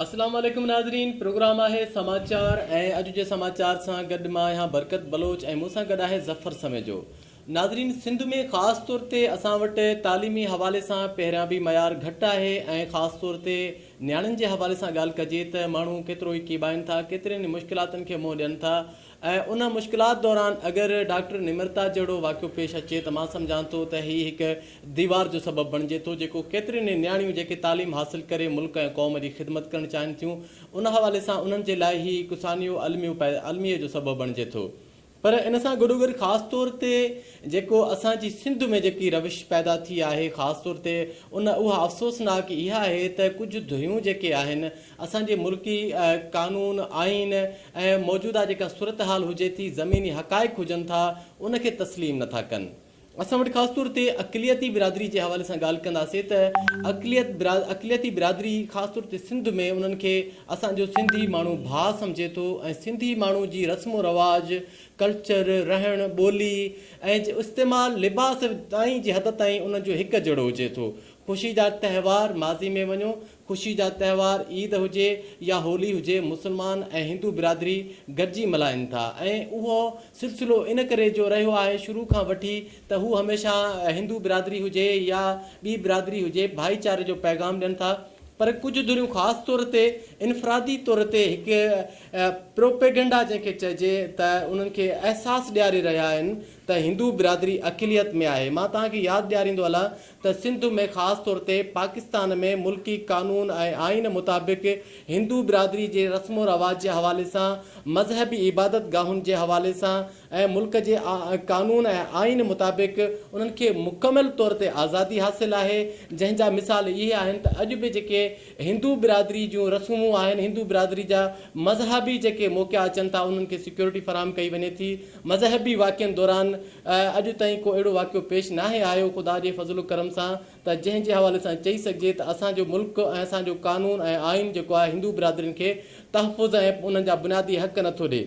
اسلام عليڪم ناظرين پروگرام آهي سماچار ۽ اڄ جي سماچار سان گڏ مان آهيان برڪت بلوچ ۽ مون سان گڏ آهي ظفر سميجو ناظرين سنڌ ۾ خاص طور تي اسان وٽ تعليمي حوالي سان پهريان به معيار گهٽ آهي ۽ خاص طور تي نياڻين جي حوالي سان ڳالهه ڪجي ته ماڻهو ڪيترو ئي ڪيٻائين ٿا ڪيترين ئي مشڪلاتن کي منهن ڏين ٿا ۽ ان مشڪلات دوران اگر ڊاڪٽر نمرتا جهڙو واقعو پيش اچي ته مان سمجهان ٿو ته هي هڪ ديوار جو سبب بڻجي ٿو جيڪو ڪيترين ئي نياڻيون جيڪي تعليم حاصل ڪري ملڪ ۽ قوم جي خدمت ڪرڻ چاهين ٿيون ان حوالي سان انهن جي لاء هي هڪ سانحو الميو الميي جو سبب بڻجي ٿو پر ان سان گڏو گڏ خاص طور تي جيڪو اسان جي سنڌ ۾ جيڪي روش پيدا ٿي آهي خاص طور تي ان اها افسوسناڪ اها آهي ته ڪجهه ڌريون جيڪي آهن اسان جي ملڪي قانون آئين ۽ موجوده جيڪا صورتحال هجي ٿي زميني حقائق هجن ٿا ان کي تسليم نٿا ڪن اسان وٽ خاص طور تي اقليتي برادري جي حوالي سان ڳالهه ڪنداسين ته اقليت اقليتي برادري خاص طور تي سنڌ ۾ انهن کي اسان جو سنڌي ماڻهو ڀاء سمجهي ٿو ۽ سنڌي ماڻهو جي رسم و رواج ڪلچر رهڻ ٻولي ۽ استعمال لباس تائين جي حد تائين انهن جو هڪ جهڙو هجي ٿو خوشي جا تهوار ماضي ۾ وڃو خوشي جا تهوار عيد هجي يا هولي هجي مسلمان ۽ هندو برادري گڏجي ملهائن ٿا ۽ اهو سلسلو ان ڪري جو رهيو آهي شروع کان وٺي ته هو هميشه هندو برادري هجي يا ٻي برادري هجي ڀائيچاري جو پيغام ڏين ٿا پر ڪجهه ڌريون خاص طور تي انفرادي طور تي هڪ پروپيگنڊا جنهن کي چئجي ته انهن کي احساس ڏياري رهيا آهن ته هندو برادري اقليت ۾ آهي مان توهان کي ياد ڏياريندو هلان ته سنڌ ۾ خاص طور تي پاڪستان ۾ ملڪي قانون ۽ آئين مطابق هندو برادري جي رسم و رواج جي حوالي سان، مذهبي عبادت گاهن جي حوالي سان ۽ ملڪ جي قانون ۽ آئين مطابق انهن کي مڪمل طور تي آزادي حاصل آهي جنهن جا مثال اهي آهن ته اڄ به جيڪي هندو برادري جون رسومون آهن هندو برادري جا مذهبي جيڪي موقعا اچن ٿا انهن کي سيڪيورٽي فراهم ڪئي وڃي ٿي مذهبي واقعن دوران اڄ تائين ڪو اهڙو واقعو پيش ناهي آيو خدا جي فضل و ڪرم سان ته جنهن جي حوالي سان چئي سگهجي ته اسان جو ملڪ ۽ اسان جو قانون ۽ آئين جيڪو آهي هندو برادرين کي تحفظ ۽ انهن جا بنيادي حق نٿو ڏي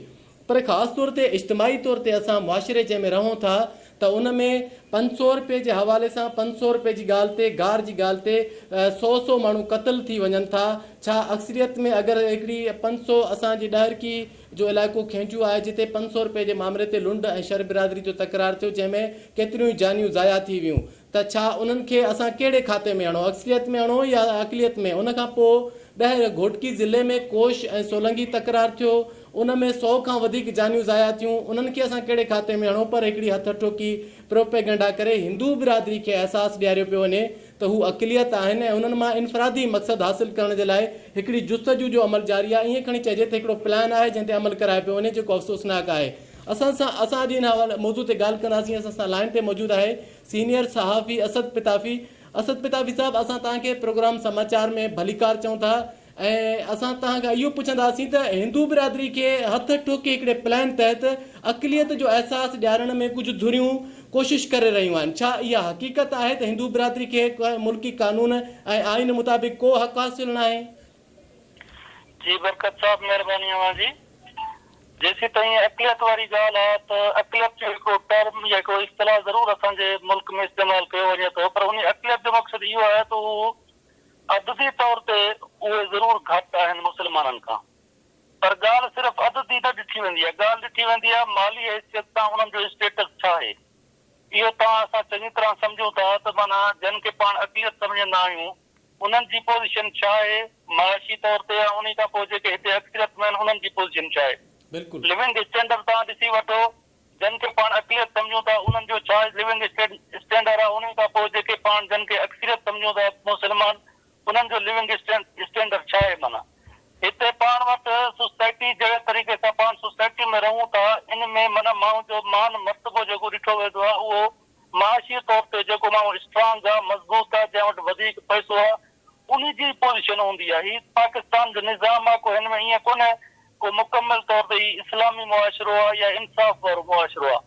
پر خاص طور تي اجتماعي طور تي اسان معاشري جنهن ۾ رهون ٿا ته ان ۾ پنج سؤ رپئي جي حوالي سان پنج سؤ رپئي جي ڳالهه تي گار جي ڳالهه تي سؤ سؤ ماڻهو قتل ٿي وڃن ٿا ڇا اڪثريت ۾ اگر هڪڙي پنج سؤ اسان جي ڏهرڪي جو علائقو کينجو آهي جتي پنج سؤ رپئي جي معاملي تي لنڊ ۽ شر برادري جو تڪرار ٿيو جنهن ۾ ڪيتريون ئي جانيون ضايع ٿي ويون ته ڇا انهن کي اسان ڪهڙي کاتي ۾ اڻو اڪثريت ۾ اڻو يا اقليت ۾ ان کان پوء ٻهر گهوٽڪي ضلعي ۾ ڪوش ۽ سولنگي تڪرار ٿيو ان ۾ سؤ کان وڌيڪ جانيون ضايع ٿيون انهن کي اسان ڪهڙي کاتي ۾ اڻو پر هڪڙي هٿ اٺوڪي پروپيگنڊا ڪري هندو برادري کي احساس ڏياريو پيو وڃي ته هو اقليت آهن ۽ انهن مان انفرادي مقصد حاصل ڪرڻ جي لاء هڪڙي جستجو جو عمل جاري آهي ائين کڻي چئجي ته هڪڙو پلان آهي جنهن تي عمل ڪرايو پيو وڃي جيڪو افسوسناڪ آهي اسان سان اسان اڄ ان حوالي موضوع تي ڳالهه ڪنداسين اسان سان لائين تي موجود آهي سينيئر صحافي اسد پتافي اسد پتافي صاحب اسان توهان کي پروگرام سماچار ۾ ڀليڪار چئون ٿا ۽ اسان توهان کان اهو پڇنداسين ته هندو برادري کي هٿ ٺوڪي هڪڙي پلان تحت اقليت جو احساس ڏيارڻ ۾ ڪجهه ڌريون ڪوشش ڪري رهيون آهن ڇا اها حقيقت آهي ته هندو برادري کي ملڪي قانون ۽ آئين مطابق ڪو حق حاصل ناهي؟ جي برڪت صاحب مھرباني اوھان جي جيسين تائين اقليت واري ڳالھ آ ته اقليت جو ھڪڙو ٽرم يا ھڪڙو اصطلاح ضرور اسان جي ملڪ ۾ استعمال ڪيو وڃي ٿو پر انھي اقليت جو مقصد اھو آھي ته اھو عددي طور تي اھي ضرور گھٽ آھن مسلمانن کان پر ڳالھ صرف عددي نه ڏٺي ويندي آ ڳالھ ڏٺي ويندي آ مالي حيثيت سان انھن جو اسٽيٽس ڇا آھي اھو توھان اسان چڱي طرح سمجھون ٿا ته معنيٰ جنھن کي پاڻ اقليت سمجھندا آھيون انهن جي پوزيشن ڇا آهي معاشي طور تي يا انهي کان پوء جيڪي هتي اڪثريت ۾ آهن انهن جي پوزيشن ڇا آهي. بلڪل. لوونگ اسٽينڊر تان ڏسي وٺو جن کي پاڻ اقليت سمجهون ٿا انهن جو ڇا لوونگ اسٽينڊر آهي انهي کان پوء جيڪي پاڻ جن کي اڪثريت سمجهون ٿا مسلمان انهن جو لوونگ اسٽينڊر ڇا آهي معنيٰ هتي پاڻ وٽ سوسائٽي جهڙي طريقي سان پاڻ سوسائٽي ۾ رهون ٿا ان ۾ معنيٰ ماڻهو جو مان مرتبو جيڪو ڏٺو ويندو آهي اهو معاشي طور تي جيڪو ماڻهو اسٽرانگ آ، مضبوط آ، جنهن وٽ وڌيڪ پئسو آ، انهي جي ئي پوزيشن هوندي آ. هي پاڪستان جو نظام آ، ڪو هن ۾ ائين ڪونهي، ڪو مڪمل طور تي هي اسلامي معاشرو آ يا انصاف وارو معاشرو آ.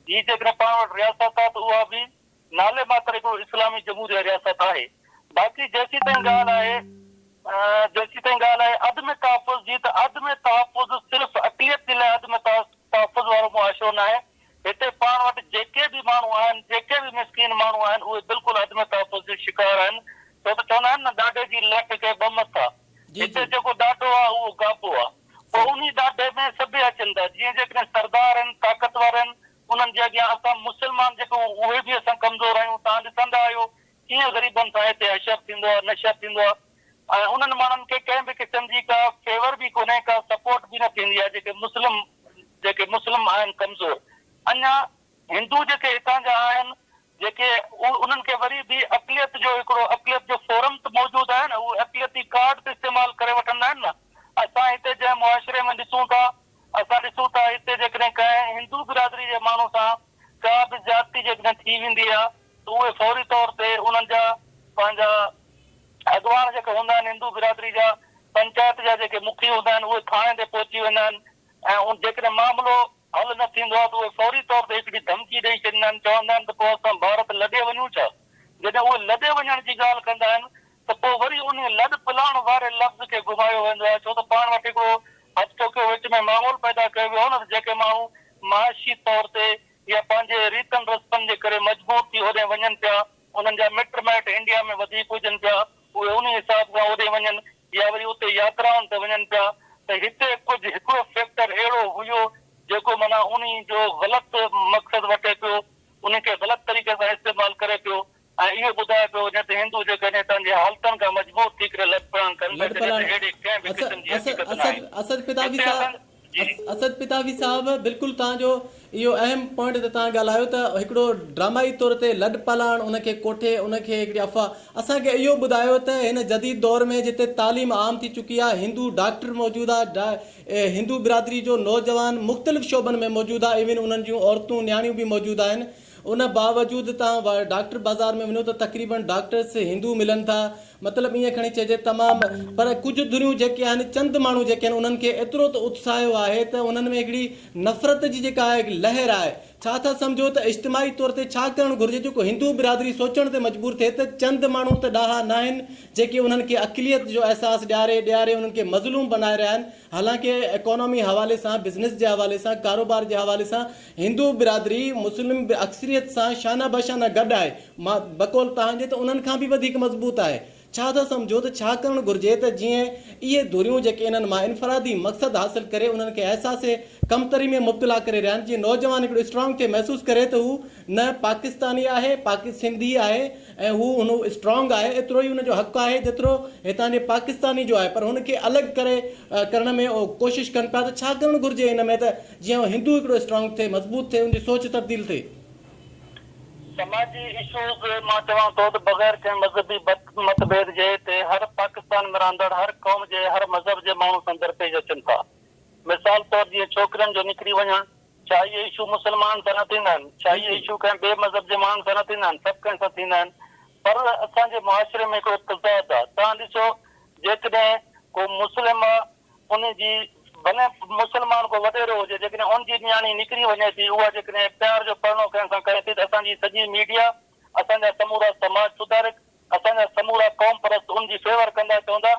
هي جيڪڏهن پاڻ وٽ رياست آ ته اها به نالي ماتر هڪڙو اسلامي جمهوريه رياست آهي. باقي جيسيتائين ڳالهه آهي، جيسيتائين ڳالهه آهي عدم تحفظ جي ته عدم تحفظ صرف اقليت جي لاء عدم تحفظ وارو معاشرو ناهي، هتي پاڻ وٽ جيڪي به ماڻهو آهن، جيڪي به مسڪين ماڻهو آهن، اهي بلڪل عدم تحفظ جو شڪار آهن، ڇو ته چوندا آهن نه ڏاڍي جي ليڪ کي ٻه مٿا، هتي جيڪو ڏاڍو آهي اهو گابو آهي، پوء انهي ڏاڍي ۾ سڀئي اچن ٿا، جيئن جيڪڏهن سردار آهن، طاقتور آهن، انهن جي اڳيان اسان مسلمان جيڪي اهي به اسان ڪمزور آهيون، توهان ڏسندا آهيو ڪيئن غريبن سان هتي حشر ٿيندو آهي نشر ٿيندو آهي ۽ انهن ماڻهن کي ڪنهن به قسم جي ڪا فيور به ڪونهي ڪا سپورٽ به نه ٿيندي آهي جيڪي مسلم جيڪي مسلم آهن ڪمزور اڃا هندو جيڪي هتان جا آهن جيڪي انهن کي وري به اقليت جو هڪڙو اقليت جو فورم ته موجود آهي نه اهو اقليتي ڪارڊ ته استعمال ڪري وٺندا آهن نه اسان هتي جنهن معاشري ۾ ڏسون ٿا اسان ڏسون ٿا هتي جيڪڏهن ڪنهن هندو برادري جي ماڻهو سان ڪا به زيادتي جيڪڏهن ٿي ويندي آهي ته اهي فوري طور تي انهن جا پنهنجا اڳواڻ جيڪي هوندا آهن هندو برادري جا پنچائت جا جيڪي مکي هوندا آهن اهي ٿاڻي تي پهچي ويندا آهن ۽ جيڪڏهن معاملو حل نه ٿيندو آهي ته اهي فوري طور تي هڪڙي ڌمڪي ڏئي ڇڏيندا آهن چوندا آهن ته پوء اسان ڀارت لڏي وڃون ڇا؟ جڏهن اهي لڏي وڃڻ جي ڳالهه ڪندا آهن ته پوء وري انهي لڏ پلاڻ واري لفظ کي گهمايو ويندو آهي ڇو ته پاڻ وٽ هڪڙو هچ ٽوڪيو وچ ۾ ماحول پيدا ڪيو ويو هو نه ته جيڪي ماڻهو معاشي طور تي يا پنهنجي ريتن رسمن جي ڪري مجبور ٿي هوڏهن وڃن پيا، انهن جا مٽ مائٽ انڊيا ۾ وڌيڪ هجن پيا، اهي انهي حساب سان اوڏي وڃن يا وري اتي ياترائن تي وڃن پيا ته هتي ڪجهه هڪڙو فيڪٽر اهڙو هيو جيڪو معنيٰ انهي جو غلط مقصد وٺي پيو، انهي کي غلط طريقي سان استعمال ڪري پيو. ۽ اهو ٻڌائي پيو وڃي ته هندو جيڪڏهن پنهنجي حالتن کان مجبور ٿي ڪري لڏپلاڻ ڪن ٿا جڏهن ته اهڙي ڪنهن به قسم جي حقيقت نه آهي. اسد پتاوي هتي صاحب اسان جي. اسد پتاوي صاحب بلڪل توهان جو اهو اهم پوائنٽ ته توهان ڳالهايو ته هڪڙو ڊرامائي طور تي لڏپلاڻ ان کي ڪوٺي ان کي هڪڙي افواهه اسان کي اهو ٻڌايو ته هن جديد دور ۾ جتي تعليم عام ٿي چڪي آهي هندو ڊاڪٽر موجود آهي ڊا هندو برادري جو نوجوان مختلف شعبن ۾ موجود آهي ايون انهن جون عورتون نياڻيون به موجود آهن ان باوجود تان ڊاڪٽر بازار ۾ وڃو ته تقريبن ڊاڪٽرس هندو ملن ٿا مطلب ايئن کڻي چئجي تمام پر ڪجهه ڌريون جيڪي آهن چند ماڻهو جيڪي آهن انهن کي ايترو ته اتساهيو آهي ته انهن ۾ هڪڙي نفرت جي جيڪا آهي لهر آهي ڇا ٿا سمجهو ته اجتماعي طور تي ڇا ڪرڻ گهرجي جيڪو هندو برادري سوچڻ تي مجبور ٿئي ته چند ماڻهو ته ڏاها ناهن جيڪي انهن کي اقليت جو احساس ڏياري ڏياري انهن کي مظلوم بنائي رهيا آهن حالانڪه اڪانومي حوالي سان بزنس جي حوالي سان ڪاروبار جي حوالي سان هندو برادري مسلم به اڪثريت سان شانه به شانه گڏ آهي. مان بقول توهان جي ته انهن کان به وڌيڪ مضبوط آهي. ڇا ٿا سمجهو ته ڇا ڪرڻ گهرجي ته جيئن اهي ڌريون جيڪي انهن مان انفرادي مقصد حاصل ڪري انهن کي احساس ڪمتري ۾ مبتلا ڪري رهيا آهن جيئن نوجوان هڪڙو اسٽرانگ ٿئي محسوس ڪري ته هو نه پاڪستاني آهي پاڪ سنڌي آهي ۽ هو هن اسٽرانگ آهي ايترو ئي هن جو حق آهي جيترو هتان جي پاڪستاني جو آهي پر هن کي الڳ ڪري ڪرڻ ۾ ڪوشش ڪن پيا ته ڇا ڪرڻ گهرجي ان ۾ ته جيئن هو هندو هڪڙو اسٽرانگ ٿئي مضبوط ٿئي ان جي سوچ تبديل ٿئي. سماجي اسوز مان چوان ٿو ته بغير ڪنهن مذهبي متڀيد جي هتي هر پاڪستان ۾ رهندڙ هر قوم جي هر مذهب جي ماڻهو سان درپيش اچن ٿا مثال طور جيئن ڇوڪرين جو نڪري وڃڻ ڇا اهي اشو مسلمانن سان نه ٿيندا آهن ڇا اهي اشو ڪنهن ٻئي مذهب جي ماڻهن سان نه ٿيندا آهن سڀ ڪنهن سان ٿيندا آهن پر اسان جي معاشري ۾ هڪڙو تضاد آهي توهان ڏسو جيڪڏهن ڪو مسلم ان جي ڀلي مسلمان ڪو وڏيرو هجي جيڪڏهن ان جي نياڻي نڪري وڃي ٿي اها جيڪڏهن پيار جو پرڻو ڪنهن سان ڪري ٿي ته اسان جي سڄي ميڊيا اسان جا سمورا سماج سڌارڪ اسان جا سمورا قوم پرست ان جي فيور ڪندا چوندا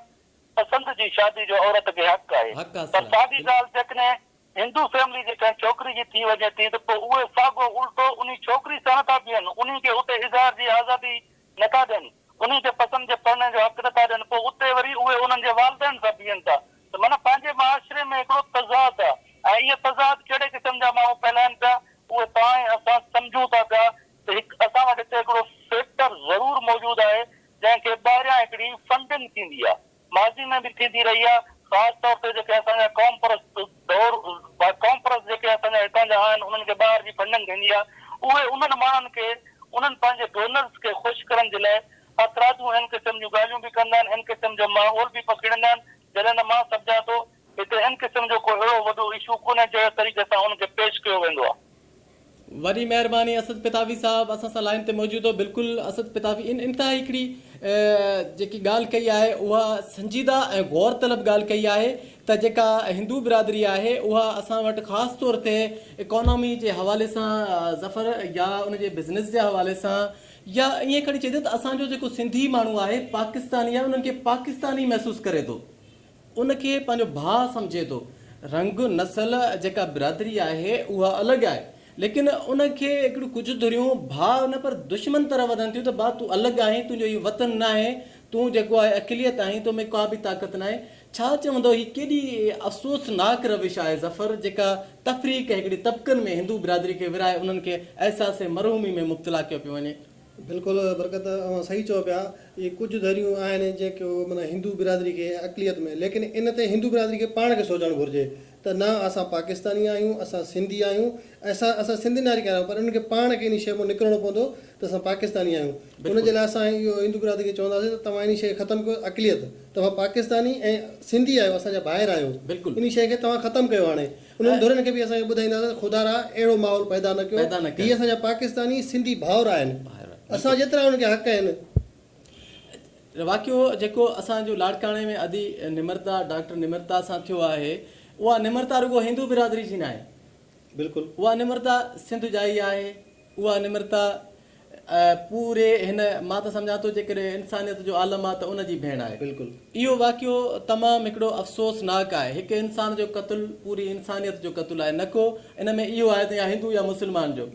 پسند جي شادي جو عورت کي حق آهي پر ساڳي ڳالهه جيڪڏهن هندو فيملي جي ڪنهن ڇوڪري جي ٿي وڃي ٿي ته پوء اهي ساڳو الٽو انهي ڇوڪري سان نه ٿا بيهن انهي کي اتي اظهار جي آزادي نه ٿا ڏين، انهن کي پسند جي پرڻي جو حق نه ٿا ڏين پوء اتي وري اهي انهن جي والدين سان بيهن ٿا ته معنيٰ پنهنجي معاشري ۾ هڪڙو تضاد آ ۽ اهي تضاد ڪهڙي قسم جا ماڻهو ڦهلائين پيا اهي توهان ۽ اسان سمجهون ٿا پيا ته هڪ اسان وٽ هتي هڪڙو فيڪٽر ضرور موجود آهي جنهن کي ٻاهريان هڪڙي فنڊنگ ٿيندي آ. ماضي ۾ به ٿيندي رهي آهي، خاص طور تي جيڪي اسان جا قومپرست دور قومپرست جيڪي اسان جا هتان جا آهن انهن کي ٻاهر جي فنڊنگ ٿيندي آهي اهي انهن ماڻهن کي انهن پنهنجي ڊونرز کي خوش ڪرڻ جي لاء اعتراضون هن قسم جون ڳالهيون به ڪندا آهن هن قسم جو ماحول به پکيڙيندا آهن جڏهن ته مان سمجهان ٿو هتي ان قسم جو ڪو اهڙو وڏو اشو ڪونهي جهڙي طريقي سان ان کي پيش ڪيو ويندو آهي. وڏي مهرباني اسد پتافي صاحب اسان سان لائين تي موجود هو بلڪل اسد پتافي ان انتهائي هڪڙي جيڪي ڳالهه ڪئي آهي اها سنجيده ۽ غور طلب ڳالهه ڪئي آهي ته جيڪا هندو برادري آهي اها اسان وٽ خاص طور تي اڪانامي جي حوالي سان ظفر يا ان جي بزنس جي حوالي سان يا ائين کڻي چئجي ته اسان جو جيڪو سنڌي ماڻهو آهي پاڪستاني آهي انهن کي پاڪستاني محسوس ڪري ٿو ان کي پنهنجو ڀاء سمجهي ٿو. رنگ، نسل، جيڪا برادري آهي اها الڳ آهي ليڪن ان کي هڪڙيون ڪجهه ڌريون ڀاء نه پر دشمن طرح وڌن ٿيون ته ڀاء تون الڳ آهين، تنهنجو هي وطن ناهي، تون جيڪو آهي اقليت آهين، تو ۾ ڪا به طاقت ناهي. ڇا چوندو هي ڪيڏي افسوسناڪ روش آهي ظفر جيڪا تفريق هڪڙي طبقن ۾ هندو برادري کي ورهائي انهن کي احساس مرحومي ۾ مبتلا ڪيو پيو وڃي. بلڪل برڪت اوهان صحيح چئو پيا اهي ڪجهه ڌريون آهن جيڪو معنيٰ هندو برادري کي اقليت ۾ ليڪن ان تي هندو برادري کي پاڻ کي سوچڻ گهرجي ته نه اسان پاڪستاني آهيون اسان سنڌي آهيون اسان اسان سنڌ ناري کي آهيون پر انهن کي پاڻ کي انهي شئي مون نڪرڻو پوندو ته اسان پاڪستاني آهيون ان جي لاء اسان اهو هندو برادري کي چونداسين ته توهان انهي شئي کي ختم ڪيو اقليت توهان پاڪستاني ۽ سنڌي آهيو اسان جا ڀائر آهيو انهي شئي کي توهان ختم ڪيو هاڻي انهن ڌرين کي به اسان اهو ٻڌائينداسين ته خدارا اهڙو ماحول پيدا نه ڪيو، هي اسان جا پاڪستاني سنڌي ڀائر آهن، اسان جيترا انهن کي حق آهن. واقعو جيڪو اسان جو لاڙڪاڻي ۾ ادي نمرتا ڊاڪٽر نمرتا سان ٿيو آهي اها نمرتا رڳو هندو برادري جي ناهي بلڪل اها نمرتا سنڌ جا ئي آهي اها نمرتا پوري هن مان ته سمجهان ٿو جيڪڏهن انسانيت جو عالم آ ته ان جي ڀيڻ آهي. اهو واقعو تمام هڪڙو افسوس ناڪ آهي. هڪ انسان جو قتل پوري انسانيت جو قتل آهي نه ڪو ان ۾ اهو آهي ته يا هندو يا مسلمان جو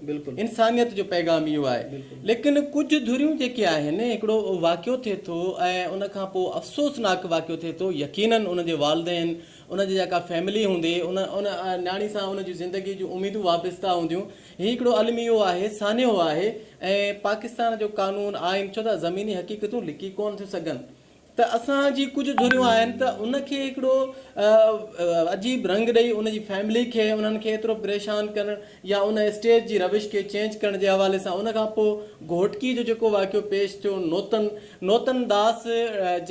انسانيت جو پيغام اهو آهي ليڪن ڪجهه ڌريون جيڪي آهن هڪڙو واقعو ٿئي ٿو ۽ ان کان پو افسوس ناڪ واقعو ٿئي ٿو يقينن ان جي والدين ان جي جيڪا فيملي هوندي ان ان نياڻي سان ان جون زندگي جون اميدون وابسته هونديون هي هڪڙو الميو آهي، سانحو آهي ۽ پاڪستان جو قانون، آئين ڇو ته زميني حقيقتون لڪي ڪونه ٿيون سگهن ته اسان جي ڪجهه ڌريون آهن ته ان کي هڪڙو عجيب رنگ ڏئي ان جي فيملي کي انهن کي ايترو پريشان ڪرڻ يا ان اسٽيج جي روش کي چينج ڪرڻ جي حوالي سان ان کان پوء گهوٽڪي جو جيڪو واقعو پيش ٿيو نوتن نوتن داس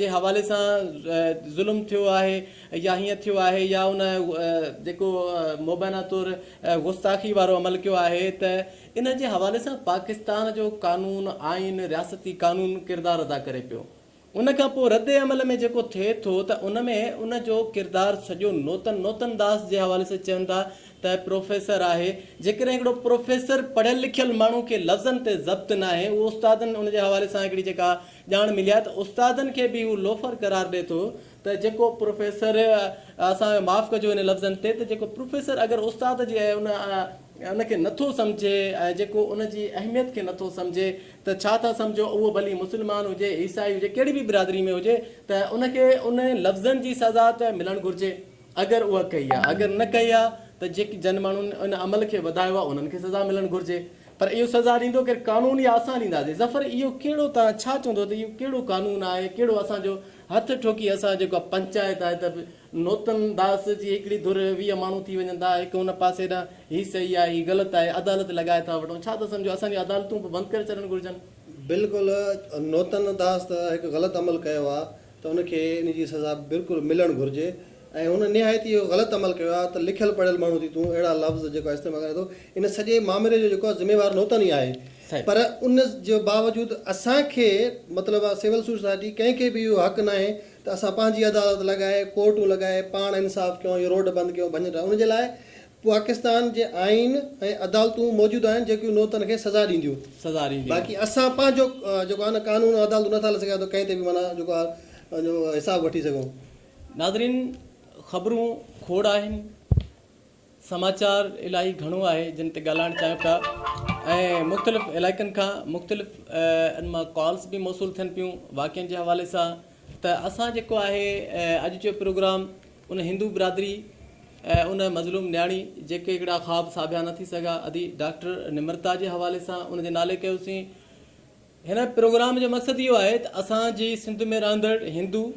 جي حوالي سان ظلم ٿيو آهي يا هيئن ٿيو آهي يا ان جيڪو مبينا طور گستاخي وارو عمل ڪيو آهي ته ان جي حوالي سان پاڪستان جو قانون، آئين، رياستي قانون ڪردار ادا ڪري پيو. ان کان پوء رد عمل ۾ جيڪو ٿئي ٿو ته ان ۾ ان جو ڪردار سڄو نوتن نوتن داس جي حوالي سان چون ٿا ته پروفيسر آهي. جيڪڏهن هڪڙو پروفيسر پڙهيل لکيل ماڻهو کي لفظن تي ضبط ناهي اهو استادن ان جي حوالي سان هڪڙي جيڪا ڄاڻ ملي آهي ته استادن کي به هو لوفر قرار ڏي ٿو ته جيڪو پروفيسر اسان کي معاف ڪجو ان لفظن تي ته جيڪو پروفيسر اگر استاد جي ان ان کي نٿو سمجهي ۽ جيڪو ان جي اهميت کي نٿو سمجهي ته ڇا ٿا سمجهو اهو ڀلي مسلمان هجي عيسائي هجي ڪهڙي به برادري ۾ هجي ته ان کي ان لفظن جي سزا ته ملڻ گهرجي اگر اها ڪئي آهي اگر نه ڪئي آهي ته جيڪي جن ماڻهن ان عمل کي وڌايو آهي انهن کي سزا ملڻ گهرجي پر اهو سزا ڏيندو ڪير قانون يا اسان ڏينداسين ظفر اهو ڪهڙو توهان ڇا چوندو ته اهو ڪهڙو قانون آهي ڪهڙو اسان جو هٿ ٺوڪي اسان جيڪا پنچائت آهي ته نوتن داس جي هڪڙي ڌر ويهه ماڻهو ٿي وڃن ٿا هڪ ان پاسي ڏانهن هي صحيح آهي هي غلط آهي عدالت لڳائي ٿا وٺون ڇا ٿا سمجهو اسان جون عدالتون به بند ڪري ڇڏڻ گهرجن. بلڪل نوتن داس ته هڪ غلط عمل ڪيو آهي ته ان کي ان جي سزا بلڪل ملڻ گهرجي ۽ هن نهايت ئي غلط عمل ڪيو آهي ته لکيل پڙهيل ماڻهو ٿي تون اهڙا لفظ جيڪو استعمال ڪرين ٿو ان سڄي مامري جو جيڪو آهي ذميوار نوتن ئي آهي پر ان جي باوجود اسان کي مطلب آهي سول سوسائٽي ڪنهن کي به اهو حق ناهي ته اسان پنهنجي عدالت لڳائي ڪورٽون لڳائي پاڻ انصاف ڪيون يا روڊ بند ڪيون ڀڃ ٽهه ان جي لاء پاڪستان جي آئين ۽ عدالتون موجود آهن جيڪيون نوتن کي سزا ڏينديون سزا ڏينديون باقي اسان پنهنجو جيڪو آهي نه قانون ۽ عدالتون نٿا هلائي سگهيا ته ڪنهن تي به معنيٰ جيڪو آهي حساب وٺي سگهون. ناظرين خبرون کوڙ آهن سماچار الاهي گهڻو آهي جن تي ڳالهائڻ چاهيون ٿا ۽ مختلف علائقن کان مختلف ان مان ڪالس به موصول ٿين پيون واقعن جي حوالي سان ته اسان جيڪو آهي اڄ جو پروگرام ان هندو برادري ان مظلوم نياڻي جيڪي هڪڙا خواب ساڀيا نه ٿي سگهيا ادي ڊاڪٽر نمرتا جي حوالي سان ان جي نالي ڪيوسين هن پروگرام جو مقصد اهو آهي ته اسان جي سنڌ ۾ رهندڙ هندو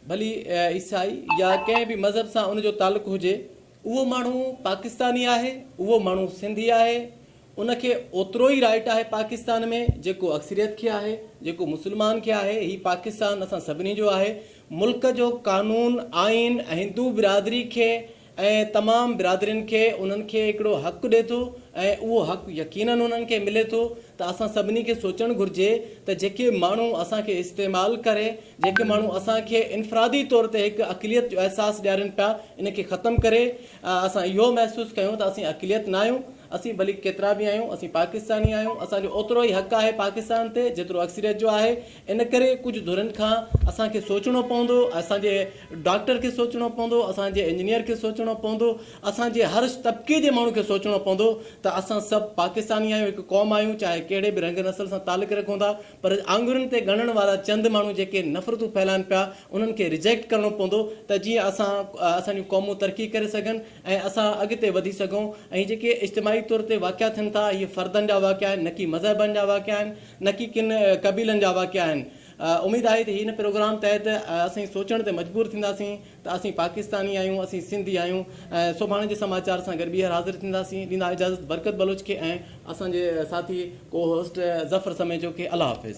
ڀلي عيسائي يا ڪنهن به مذهب سان ان جو تعلق هجي، اهو ماڻهو پاڪستاني آهي، اهو ماڻهو سنڌي آهي، ان کي اوترو ئي رائٽ آهي پاڪستان ۾ جيڪو اڪثريت کي آهي، جيڪو مسلمان کي آهي، هي پاڪستان اسان سڀني جو آهي، ملڪ جو قانون، آئين ۽ هندو برادري کي ۽ تمام برادرين کي انهن کي هڪڙو حق ڏي ٿو ۽ اهو حق يقينن انهن کي ملي ٿو ته اسان سڀني کي سوچڻ گهرجي ته جيڪي ماڻهو اسان کي استعمال ڪري جيڪي ماڻهو اسان کي انفرادي طور تي هڪ اقليت جو احساس ڏيارين پيا ان کي ختم ڪري اسان اهو محسوس ڪيون ته اسين اقليت نه آهيون اسين ڀلي ڪيترا به آهيون اسين پاڪستاني آهيون اسان جو اوترو ئي حق آهي پاڪستان تي جيترو اڪثريت جو آهي ان ڪري ڪجهه ڌرين کان اسان کي سوچڻو پوندو، اسان جي ڊاڪٽر کي سوچڻو پوندو، اسان جي انجنيئر کي سوچڻو پوندو، اسان جي هر طبقي جي ماڻهو کي سوچڻو پوندو ته اسان سڀ پاڪستاني آهيون، هڪ قوم آهيون، چاهي ڪهڙي به رنگ نسل سان تعلق رکون ٿا، پر آڱرين تي ڳڻڻ وارا چند ماڻهو جيڪي نفرتون ڦهلائن پيا انهن کي ريجيڪٽ ڪرڻو پوندو ته جيئن اسان اسان جون قومون ترقي ڪري سگهن ۽ اسان اڳتي وڌي سگهون ۽ جيڪي اجتماعي طور تي واقعا ٿين ٿا هي فردن جا واقعا آهن نڪي مذهبن جا واقعا آهن. نڪي ڪن قبيلن جا واقعا آهن. اميد آهي ته هن پروگرام تحت اسين سوچڻ تي مجبور ٿينداسين ته اسين پاڪستاني آهيون اسين سنڌي آهيون سڀاڻي جي سماچار سان گڏ ٻيهر حاضر ٿينداسين ڏيندا اجازت برڪت بلوچ کي ۽ اسان جي ساٿي ڪو هوسٽ ظفر سميجو کي الله حافظ.